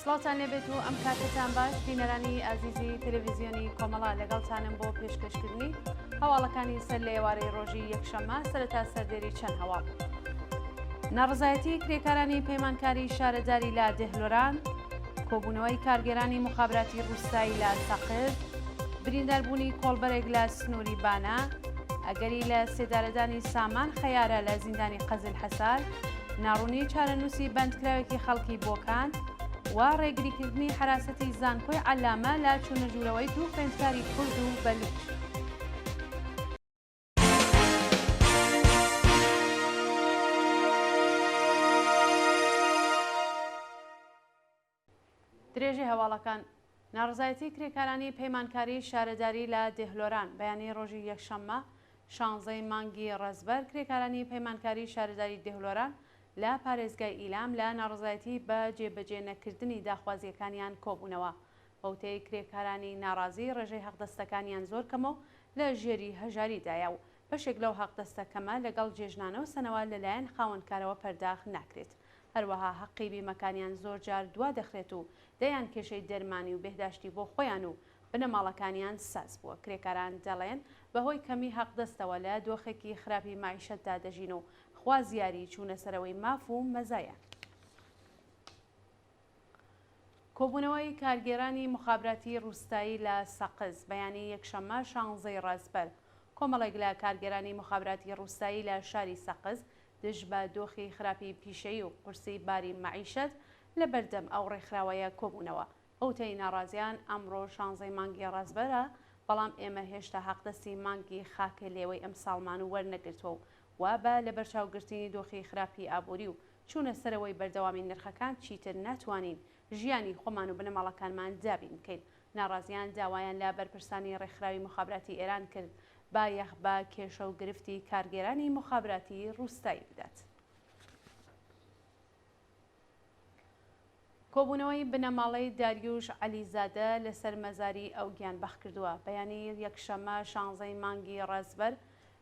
سڵاوتان لێبێت و ئەم کاتەتان باش بینەرانی ئازیزی تەلەڤیزیۆنی کۆمەڵا لەگەڵتانم بۆ پێشکەشکردنی هەواڵەکانی سەر لە ئێوارەی ڕۆژی یەکشەممە سەرەتا سەردێری چەند هەواڵ ناڕزایەتی کرێکارانی پەیمانکاری شارەداری لە دێهلۆران کۆبوونەوەی کارگێرانی مخابراتی ڕووسایی لە سەقز برینداربوونی کۆڵبەرێک لە سنووری بانە ئەگەری لە سێدارەدانی سامان خەیارە لە زیندانی قەزل حەسار ناڕوونی چارەنووسی بەندکراوێکی خەڵکی بۆکان و ڕێگریکردنی حەراسەتی زانکۆی عەلامە لە چوونەژوورەوەی دوو خوێندکاری کورد و بەلووچ. درێژەی هەواڵەکان ناڕەزایەتی کرێکارانی پەیمانکاری شارەداری لە دێهلۆران بەیانی ڕۆژی یەکشەممە شانزەی مانگی ڕەزبەر کرێکارانی پەیمانکاری شارەداری دێهلۆران لە پارێزگای ئیلام لە ناڕەزایەتی بە جێبەجێ نەکردنی داخوازییەکانیان کۆبوونەوە بەوتەی کرێکارانی ناڕازی ڕێژەی حەقدەستەکانیان زۆر کەمە و لە ژێری هەژاری دایە و بەشێک لەو حەقدەستە کەمە لەگەڵ جێژنانە و سەنەوە لەلایەن خاوەنکارەوە پەرداخ ناکرێت هەروەها هەقی بیمەکانیان زۆر جار دوا دەخرێت و دەیان کێشەی دەرمانی و بێهداشتی بۆ خۆیان و بنەماڵەکانیان ساز بووە، کرێکاران دەڵێن بەهۆی کەمی هەقدەستەوە لە دۆخێکی خراپی مەعیشەتدا دەژین و خوازیاری چوونە سەرەوەی ماف و مەزایان. کۆبوونەوەی کارگێرانی موخابراتی ڕوستایی لە سەقز، بەیانی یەکشەممە شانزەی ڕەزپەر، کۆمەڵێک لە کارگێرانی موخابراتی ڕوستایی لە شاری سەقز دژ بە دۆخی خراپی پیشەیی و قورسی باری مەعیشەت لە بەردەم ئەو ڕێکخراوەیە کۆبوونەوە. ئەوتەی ناڕازیان ئەمڕۆ شانزەی مانگی ڕەزبەرە، بەڵام ئێمە هێشتا حەقدەستی مانگی خاکە لێوەی ئەمساڵمان وەرنەگرتووە و وا بە لەبەرچاوگرتنی دۆخی خراپی ئابووری و چوونە سەرەوەی بەردەوامی نرخەکان چیتر ناتوانین ژیانی خۆمان و بنەماڵەکانمان دابین بکەین. ناڕازیان داوایان لە بەرپرسانی ڕێکخراوی موخابراتی ئێران کرد بایەخ بە کێشە و گرفتی کارگێرانی موخابراتی ڕووستایی بدات. کۆبوونەوەی بنەماڵەی داریوش عەلیزادە لەسەر مەزاری ئەو گیانبەخت کردووە. بەیانی یەکشەممە شانزەی مانگی ڕەزبەر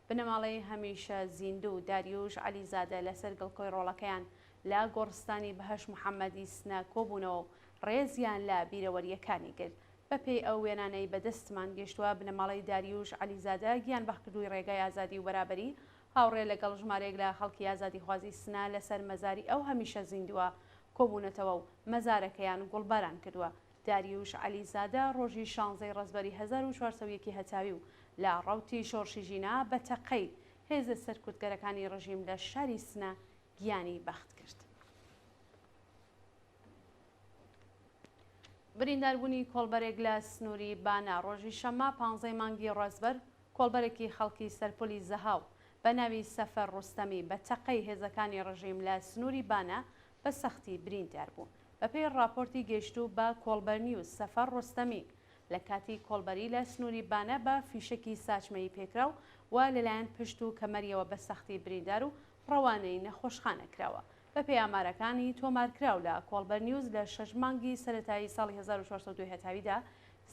بنەماڵەی هەمیشە زیندوو، داریووش عەلیزادە لەسەر گڵکۆی ڕۆڵەکەیان لە گۆڕستانی بەهەشت محەمەدی سنە کۆبوونەوە و ڕێزیان لە بیرەوەرییەکانی گرت. بەپێی ئەو وێنانەی بە دەستمان گەیشتووە، بنەماڵەی داریووش عەلیزادە گیانبەخت کردووی ڕێگای ئازادی و بەرابەری، هاوڕێ لەگەڵ ژمارەیەک لە خەڵکی ئازادیخوازی سنە لەسەر مەزاری ئەو هەمیشە زیندووە کۆبوونەتەوە و مەزارەکەیان گوڵباران کردووە. داریووش عەلیزادە ڕۆژی شانزەی ڕەزبەری هەزار و چوار سەد و یەک ی هەتاوی و لە ڕەوتی شۆڕشی ژینا بە تەقەی هێزە سەرکوتگەرەکانی ڕژیم لە شاری سنە گیانی بەخت کرد. برینداربوونی کۆڵبەرێک لە سنووری بانە ڕۆژی شەممە پانزە ی مانگی ڕەزبەر کۆڵبەرێکی خەڵکی سەرپۆلی زەهاو بە ناوی سەفەر ڕۆستەمی بە تەقەی هێزەکانی ڕژیم لە سنووری بانە بە سەختی بریندار بوو. بەپێی ڕاپۆرتی گەیشتوو بە کۆڵبەرنیوز، سەفەر ڕۆستەمی، لە کاتی کۆڵبەری لە سنووری بانە بە فیشەکی ساچمەیی پێکراو و لەلایەن پشت و کەمەریەوە بە سەختی بریندار و ڕەوانەی نەخۆشخانە کراوە. بەپێی ئامارەکانی تۆمارکراو لە کۆڵبەرنیوز، لە شەش مانگی سەرەتایی ساڵی هەزار و چوار سەد و دوو هەتاویدا،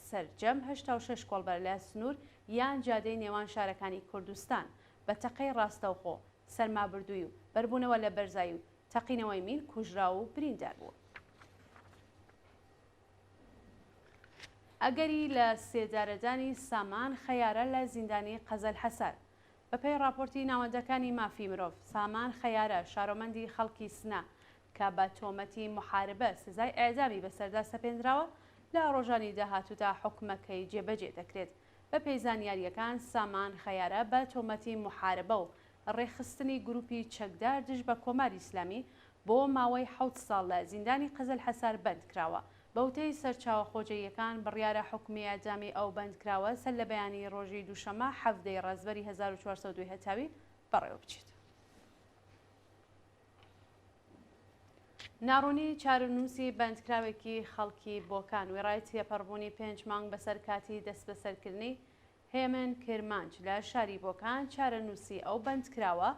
سەرجەم هەشتا و شەش کۆڵبەر لە سنوور یان جادەی نێوان شارەکانی کوردستان، بە تەقەی ڕاستەوخۆ، سەرمابردووی و بەربوونەوە لە بەرزایی و تەقینەوەی مین کوژراو و بریندار بووە. ئەگەری لە سێدارەدانی سامان خەیارە لە زیندانی قەزەلحەسار. بەپێی ڕاپۆرتی ناوەندەکانی مافی مرۆڤ، سامان خەیارە، شارۆمەندی خەڵکی سنە کە بە تۆمەتی موحاربە سزای ئێعدامی بەسەردا سەپێندراوە، لە ڕۆژانی داهاتوودا حوکمەکەی جێبەجێ دەکرێت. بەپێی زانیارییەکان، سامان خەیارە بە تۆمەتی موحاربە و ڕێکخستنی گروپی چەکدار دژ بە کۆماری ئیسلامی بۆ ماوەی حەوت ساڵ لە زیندانی قەزەلحەسار بەندکراوە. بە وتەی سەرچاوە خۆجێیەکان، بڕیارە حوکمی ئێعدامی ئەو بەندکراوە سەر لە بەیانیی ڕۆژی دووشەممە حەڤدە ی ڕەزبەری هەزار و چوار سەد و دوو هەتاوی بەڕێوەبچێت. ناڕوونی چارەنووسی بەندکراوێکی خەڵکی بۆکان، وێڕای تێپەڕبوونی پێنج مانگ بەسەر کاتی دەسبەسەرکردنی، هێمن کرمانج لە شاری بۆکان چارەنووسی ئەو بەندکراوە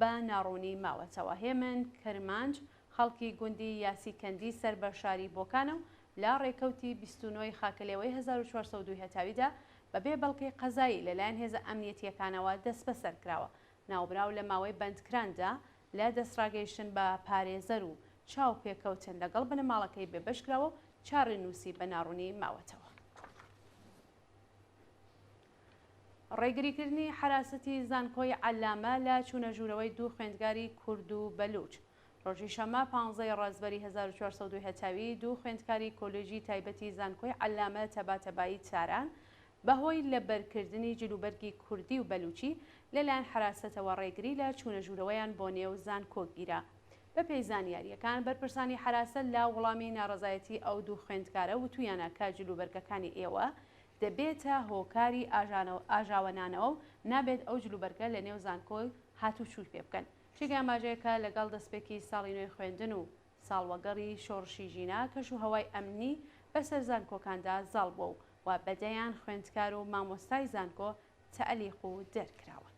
بە ناڕوونی ماوەتەوە. هێمن کرمانج خەڵکی گوندی یاسی کەندی سەر بە شاری بۆکانە و لە ڕێکەوتی بیست و نۆ ی خاکەلێوەی هەزار و چوار سەد و دوو هەتاویدا بەبێ بەڵگەی قەزایی لەلایەن هێزە ئەمنیەتییەکانەوە دەسبەسەر کراوە. ناوبراو لە ماوەی بەندکراندا لە دەستڕاگەیشتن بە پارێزەر و چاوپێکەوتن لەگەڵ بنەماڵەکەی بێبەش کراوە و چارەنووسی بە ناڕوونی ماوەتەوە. ڕێگریکردنی حەراسەتی زانکۆی عەلامە لە چوونە ژوورەوەی دوو خوێندکاری کورد و بەلووچ. ڕۆژی شەممە پانزە ی ڕەزبەری هەزار و چوار سەد و دوو هەتاوی دوو خوێندکاری کۆلێژی تایبەتی زانکۆی عەلامە تەباتەبایی تاران بە هۆی لەبەرکردنی جلوبەرگی کوردی و بەلووچی لە لایەن حەراسەتەوە ڕێگری لە چوونە ژوورەوەیان بۆ نێو زانکۆ گیرا بەپێی زانیارییەکان، بەرپرسانی حەراسە لە وەڵامی ناڕەزایەتی ئەو دوو خوێندکارە وتوویانە کە جلوبەرگەکانی ئێوە دەبێتە هۆکاری ئاژانەوە ئاژاوەنانەوە و نابێت ئەو جلوبەرگە لەنێو زانکۆ هاتووچووی پێ بکەن. چیگە ئەمباجەیە کە لەگەڵ دەستپێکی ساڵی نوێی خوێندن و ساڵوەگەڕی شۆڕشی ژینا کەشوهەوای ئەمنی بەسەر زانکۆکاندا زاڵ بووە و وا بەدەیان خوێندکار و مامۆستای زانکۆ تەلیق و دەرکراون.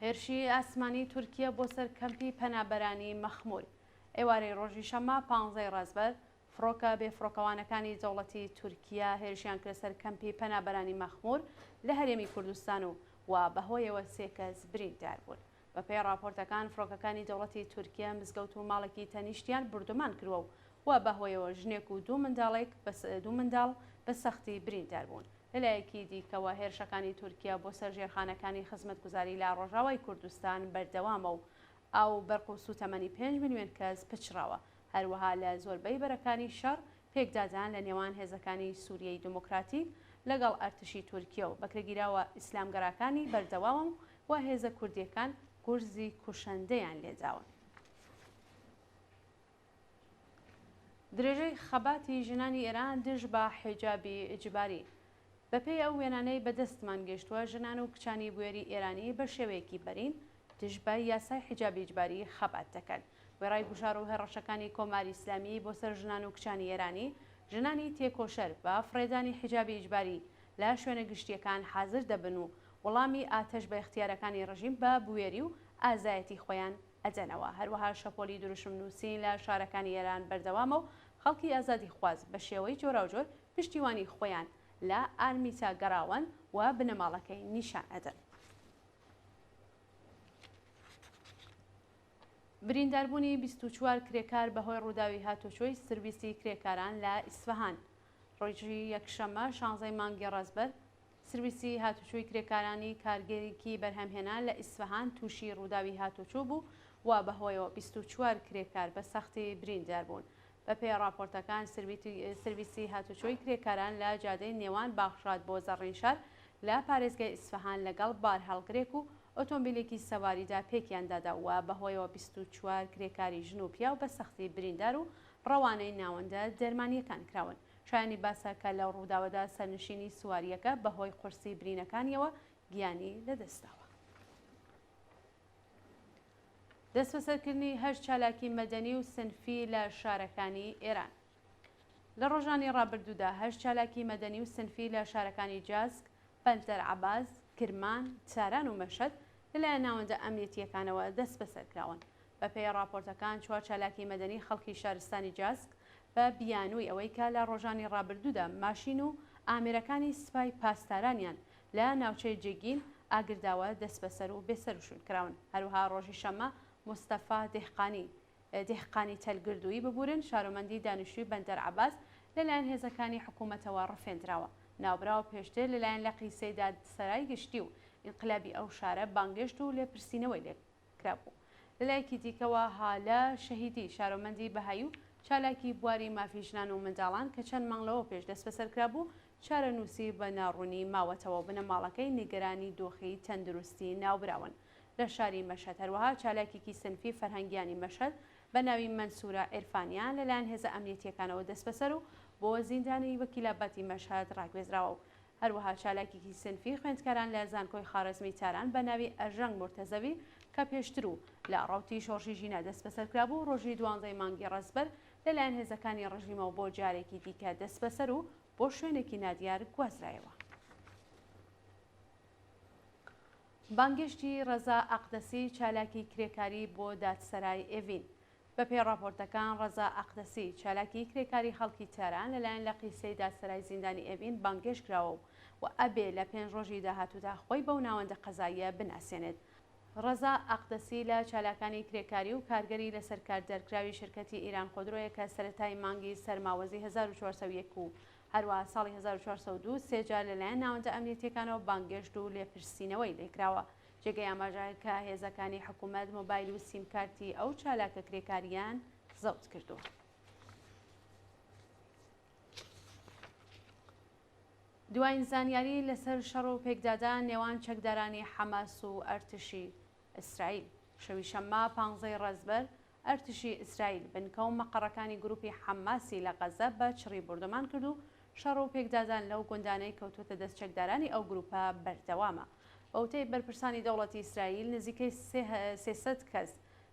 هێرشی ئاسمانی تورکیە بۆ سەر کەمپی پەنابەرانی مەخمول ئێوارەی ڕۆژی شەممە پانزەی ڕەزبەر فڕۆکە بێ فڕۆکەوانەکانی دەوڵەتی تورکیە هێرشیان کرە سەر کەمپی پەنابەرانی مەخمور لە هەرێمی کوردستان و و بەهۆیەوە سێ کەس بریندار بوون. بەپێی ڕاپۆرتەکان فڕۆکەکانی دەوڵەتی تورکیە مزگەوت و ماڵێکی تەنیشتیان بردومان کردوە و و بەهۆیەوە ژنێک و دوو منداڵێک دوو منداڵ بە سەختی بریندار بوون. لەلایەکی دیکەوە، هێرشەکانی تورکیا بۆ سەر ژێرخانەکانی خزمەتگوزاری لە ڕۆژاوای کوردستان بەردەوامە و ئاو، بەرق و سووتەمەنی پێنج ملیۆن کەس پچڕاوە. هەروەها لە زۆربەی بەرەکانی شەڕ، پێکدادان لە نێوان هێزەکانی سووریەی دێموکراتیک لەگەڵ ئەرتشی تورکیە و بەکرێگیراوە ئیسلامگەراکانی بەردەوامە و هێزە کوردییەکان گورزی کوشندەیان لێداون. درێژەی خەباتی ژنانی ئێران دژ بە حیجابی ئیجباری. بەپێی ئەو وێنانەی بە دەستمان گەیشتووە، ژنان و کچانی بوێری ئێرانی بە شێوەیەکی بەرین دژ بە یاسای حیجابی ئیجباری خەبات دەکەن. وێڕای گوشار و هەڕەشەکانی کۆماری ئیسلامی بۆ سەر ژنان و کچانی ئێرانی، ژنانی تێکۆشەر بە فڕێدانی حیجابی ئیجباری لە شوێنە گشتییەکان حازر دەبن و وڵامی ئاتەش بە ئیختیارەکانی ڕژیم بە بوێری و ئازایەتی خۆیان ئەدەنەوە، هەروەها شەپۆلی دروشم نووسین لە شارەکانی ئێران بەردەوامە و خەڵکی ئازادیخواز بە شێوەی جۆراوجۆر پشتیوانی خۆیان لە ئارمیتا گەڕاوەن و بنەماڵەکەی نیشان ئەدەن. برینداربوونی بیست و چوار کرێکار بەهۆی ڕووداوی هاتووچۆی سرویسی کرێکاران لە ئیسفەهان ڕۆیژ یەکشەممە شانزەی مانگی ڕەزبەر سرویسی هاتوچۆی کرێکارانی کارگەیەکی بەرهەمهێنان لە ئیسفەهان تووشی ڕووداوی هاتوچۆ بوو و بەهۆیەوە بیست و چوار کرێکار بە سەختی بریندار بوون. بەپێی ڕاپۆرتەکان، سرویسی هاتوچۆی کرێکاران لە جادەی نێوان باغشاد بۆ زەڕینشار لە پارێزگای ئیسفەهان لەگەڵ بارهەڵگرێک و ئۆتۆمبیلێکی سەواریدا پێکیان دادا و بەهۆیەوە بیست و چوار کرێکاری ژن و پیاو بە سەختی بریندار و ڕەوانەی ناوەندە دەرمانییەکان کراون. شایانی باسە کە لەو ڕووداوەدا سەرنشینی سوارییەکە بەهۆی قورسی برینەکانییەوە گیانی لەدەستداوە. دەستبەسەرکردنی هەشت چالاکی مەدەنی و سنفی لە شارەکانی ئێران لە ڕۆژانی ڕابردوودا هەشت چالاکی مەدەنی و سنفی لە شارەکانی جاسک، بەندەر عەباس، کرمان، تاران و مەشهەد لەلایەن ناوەندە ئەمنیەتییەکانەوە دەستبەسەرکراون. بەپێی ڕاپۆرتەکان چوار چالاکی مەدەنی خەڵکی شارستانی جاسک بە بیانووی ئەوەی کە لە ڕۆژانی ڕابردوودا ماشین و ئامێرەکانی سپای پاسدارانیان لە ناوچەی جیگین ئاگرداوە دەسبەسەر و بێسەروشوین کراون هەروەها ڕۆژی شەممە مستەفا دێهقانی دێهقانی تەل گردووی ببورن شارۆمەندی دانیشتووی بەندەر عەباس لەلایەن هێزەکانی حکوومەتەوە ڕفێندراوە ناوبراو پێشتر لەلایەن لقی سەیداد سەرای گشتی و ئینقلابی ئەو شارە بانگێشت و لێپرسینەوەی لێ کرابوو. لە لایەکی دیکەوە هالە شەهیدی، شارۆمەندی بەهایی و چالاکی بواری مافی ژنان و منداڵان کە چەند مانگ لەوە پێش دەستبەسەر کرابوو، چارەنووسی بە ناڕوونی ماوەتەوە و بنەماڵەکەی نیگەرانی دۆخی تەندروستی ناوبراون لە شاری مەشهەد. هەروەها چالاکێکی سنفی فەرهەنگیانی مەشهەد بە ناوی مەنسورە عیرفانیان لەلایەن هێزە ئەمنیەتییەکانەوە دەستبەسەر و بۆ زیندانی وەکیلاباتی مەشهەد ڕاگوێزراوە و هەروەها چالاکێکی سینفی خوێندکاران لە زانکۆی خارەزمی تاران بە ناوی ئەرژەنگ مورتەزەوی کە پێشتر و لە ڕەوتی شۆڕشی ژینا دەستبەسەر کرابوو، ڕۆژی دوانزەی مانگی ڕەزبەر لەلایەن هێزەکانی ڕژیمەوە بۆ جارێکی دیکە دەستبەسەر و بۆ شوێنێکی نادیار گوازرایەوە. بانگێشتی ڕەزا ئەقدەسی، چالاکی کرێکاری بۆ دادسەرای ئێڤین. بەپێی ڕاپۆرتەکان، ڕەزا ئەقدەسی، چالاکی کرێکاری خەڵکی تاران لەلایەن لەقی سەیدا سەرای زیندانی ئێڤین بانگهێشت کراوە و ئەبێ لە پێنج ڕۆژی داهاتوودا خۆی بەو ناوەندە قەزاییە بناسێنێت. ڕەزا ئەقدەسی لە چالاکانی کرێکاری و کارگەری لەسەر کار دەرکراوی شرکەتی ئیران خودرۆیە کە سەرەتای مانگی سەرماوەزی هەزار و چوار سەد و یەک و هەروەها ساڵی هەزار و چوار سەد و دوو سێ جار لەلایەن ناوەندە ئەمنیەتییەکانەوە بانگێشت و لێپرسینەوەی لێکراوە جێگەی ئاماژە کە هێزەکانی حکومەت مۆبایل و سیمکارتی ئەو چالاکە کرێکاریان زەوت کردووە. دوایین زانیاری لەسەر شەڕ و پێکدادان نێوان چەکدارانی حەماس و ئەرتشی ئیسرائیل شەوی شەممە پانزەی ڕێزبەر ئەرتشی ئیسرائیل بنکە و مەقەڕەکانی گرووپی حەمماسی لە غەززە بە چڕی بۆردومان کرد و شەڕ و پێکدادان لەو گوندانەی کەوتووەتە دەست چەکدارانی ئەو گرووپە بەردەوامە. بە وتەی بەرپرسانی دەوڵەتی ئیسرائیل، نزیکەی سێ سەد کەس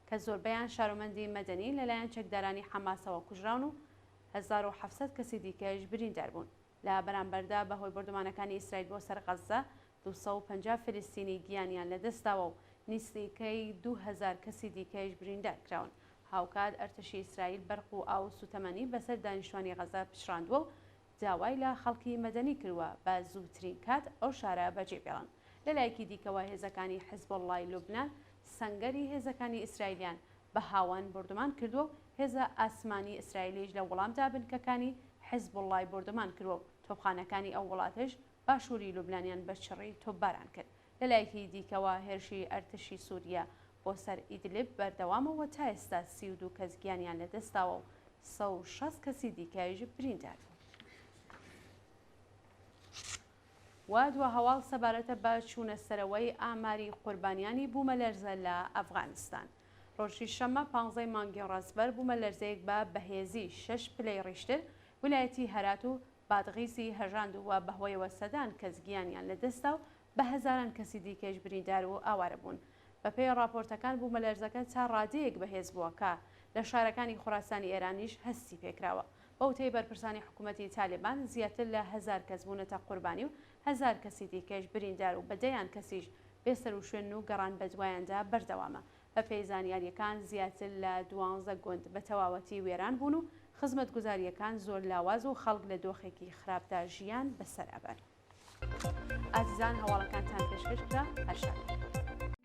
کە زۆربەیان شارۆمەندی مەدەنین لەلایەن چەکدارانی حەمماسەوە کوژراون و هەزار و حەفت سەد کەسی دیکەش بریندار بوون. لە بەرامبەردا بە هۆی بۆردومانەکانی ئیسرائیل بۆ سەر غەززە، دوو سەد و پەنجا فلستینی گیانیان لەدەستداوە و نیسنیکەی دوو هەزار کەسی دیکەیش بریندار کراون. هاوکات ئەرتەشی ئیسرائیل بەرق و ئاو و سوتەمەنی بەسەر دانیشتوانی غەززە پچڕاندوە و داوای لە خەڵکی مەدەنی کردوە بە زوترین کات ئەو شارە بەجێبێڵن. لەلایەکی دیکەوە هێزەکانی حزبوڵڵای لوبنان سەنگەری هێزەکانی ئیسرائیلیان بە هاوەن بۆردومان کردوە و هێزە ئاسمانی ئیسرائیلیش لە وڵامدا بنکەکانی حیزبوڵڵای بۆردومان کردوە و تۆپخانەکانی ئەو وڵاتەش باشووری لوبنانیان بە چڕی تۆپباران کرد. لە لایەکی دیکەوە هێرشی ئەرتشی سووریە بۆ سەر ئیدلب بەردەوامە و تا ئێستا سی و دوو کەس گیانیان لە دەست داوە و سەد و شەست کەسی دیکەش بریندار بوون. واد و هەواڵ سەبارەتە بە چوونە سەرەوەی ئاماری قوربانیانی بوومەلەرزە لە ئەفغانستان. ڕۆژی شەممە پانزەی مانگی ڕەزبەر بوومەلەرزەیەک بە بەهێزی شەش پلەی ڕیشتر ولایەتی هەرات و بادغیسی هەژاند و بەهۆیەوە سەدان کەس گیانیان لەدەستدا و بە هەزاران کەسی دیکەش بریندار و ئاوارە بوون. بەپێی ڕاپۆرتەکان بوومەلەرزەکە تا ڕادەیەک بەهێز بووە کە لە شارەکانی خوراسانی ئێرانیش هەستی پێکراوە. بەوتەی بەرپرسانی حکوومەتی تالێبان زیاتر لە هەزار کەس بوونەتە قوربانی و هەزار کەسی دیکەش بریندار و بە دەیان کەسیش بێ سەروشوێنن و گەڕان بەدوایاندا بەردەوامە. بەپێی زانیارییەکان زیاتر لە دوانزە گوند بە تەواوەتی وێران بوون و خزمەتگوزارییەکان زۆر لاواز و خەڵک لە دۆخێکی خراپدا ژیان بەسەر ئەبەن. ئازیزان هەواڵەکانتان پێشکەش کرا، هەر شاد بن.